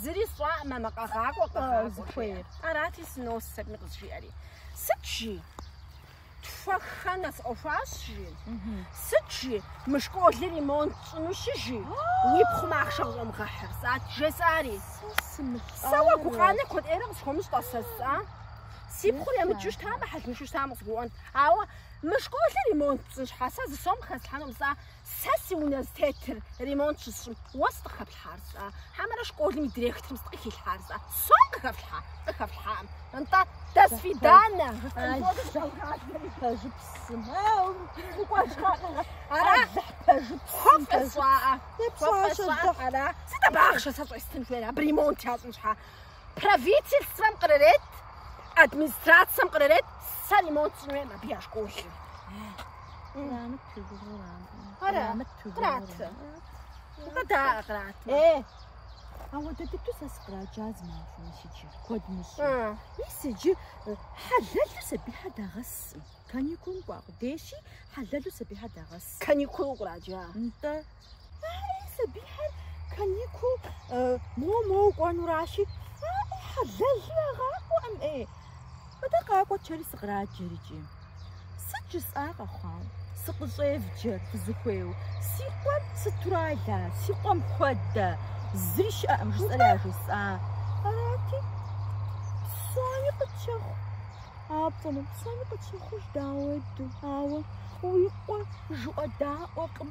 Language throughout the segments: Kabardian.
Зыри сщӏакъым мамэ къэгъакӏуэ, къэгъакӏуэ жиӏэр. Арати сынос сытми къызжиӏэри. Сыт жи? Тхуэххэ нэс ӏуэхуащ жи. Сыт жи? Мы школыр ремонт тщӏынущи, жи. Уи пхъум ахъшэ къыщӏэмыгъэхьыр сыт? Жесӏари. Сэ уэ гукъанэ куэд ӏейрэ къысхуэмыщӏэ, сэ сӏа? Си пхъур емыджу щытамэ, хьэлыншу щытамэ къызгурыӏуэнт. Ауэ мы школыр ремонт тщӏын щхьа сэ зы сом хэслъхьэнукъым, сӏа? Сэ си унэ зытетыр ремонт щысщӏым, уэ сыт къыхэплъхьар, сӏа? Хьэмэрэ школым и директорым сыт къыхилъхьар, сӏа? Сом къыхэфлъхьа? Къыхэфлъхьакъым. Нтӏэ, до свидания! Пэжыпсым. Укӏуэжкъэ? Ара? Хуэфӏэ сщӏаӏэ. Хуэфӏэ сщӏаӏэ. Ара? Сыт абы ахъшэ сэ щӏестын хуейр, абы ремонт ящӏын щхьа? Правительствэм кърырет, администрацэм кърырет сэ ремонт сщӏын хуейм абы я школыр. Кърамыт пыгугъур абы. Ара? Кърамыт пыгугъур. Къратэ. Къыдаӏэ кърат. Э, Ауэ дэ дыдэу сэ сыкъраджа зымахуэ иджы, куэд мыщӏу. а, Мис иджы э, хьэлэлу сабийхэр дагъэсым. Каникулым кӏуа къудейщи, хьэлэлу сабийхэр дагъэсым. каникулу къраджа. Нтӏэ, Ари сабийхэр каникул моу-моу кӏуэнуращи, абы хьэлэлу ягъакӏуэкъым ӏей. Мыдэ къакӏуэ жари сыкъраджэр икӏи. Сыт жысӏа къэхъуау? Сыкъыщӏевджэр фызыхуейу. Си къуэр сытурэ ала, си къуэм хуэдэ, зыри щыӏэкъым жысӏэри яжысӏа. Арати, псоми къытщэхъу. Апцӏэну псоми къытщэхъуж дауэду, ауэ уи къуэ жыӏэдаӏуэкъым.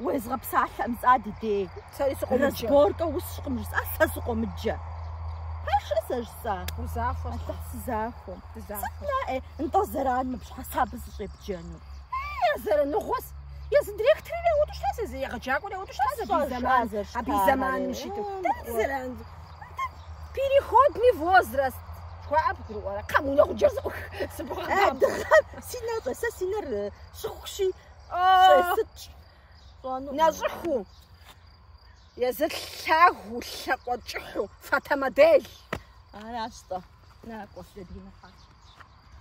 Уезгъэпсалъэкъым, сӏа, ди дей. Сэри сыкъомыджэ. Разборкэ усщкъым жысӏа, сэ сыкъомыджэ. Пашэ сэ жысӏа. Узахуэ. Аллахь сызахуэ. Сыт наӏэ, нтӏэ зэран мы пщхьэсабэ сыщӏепджэну. И зэраныгъуэс. Езы директорыр яуэду щыта, езы егъэджакӏуэр яуэду щыта, абы и зэман, абы и зэманым щыту. Дэнэ зэран? Переходный возраст. Жыхуаӏэ бгурыӏуэрэ? Коммунэ гъуджэр сыкъых. Сыбгъэкъаб. Дыгъэм си нэр щӏэ, сэ си нэр щӏыхущи. Нэщӏыху, езы лъагу лъэкъуэ кӏыхьу, фотомодель. Аращ-тӏэ. Накӏуэ, Лэдинэ хьэ.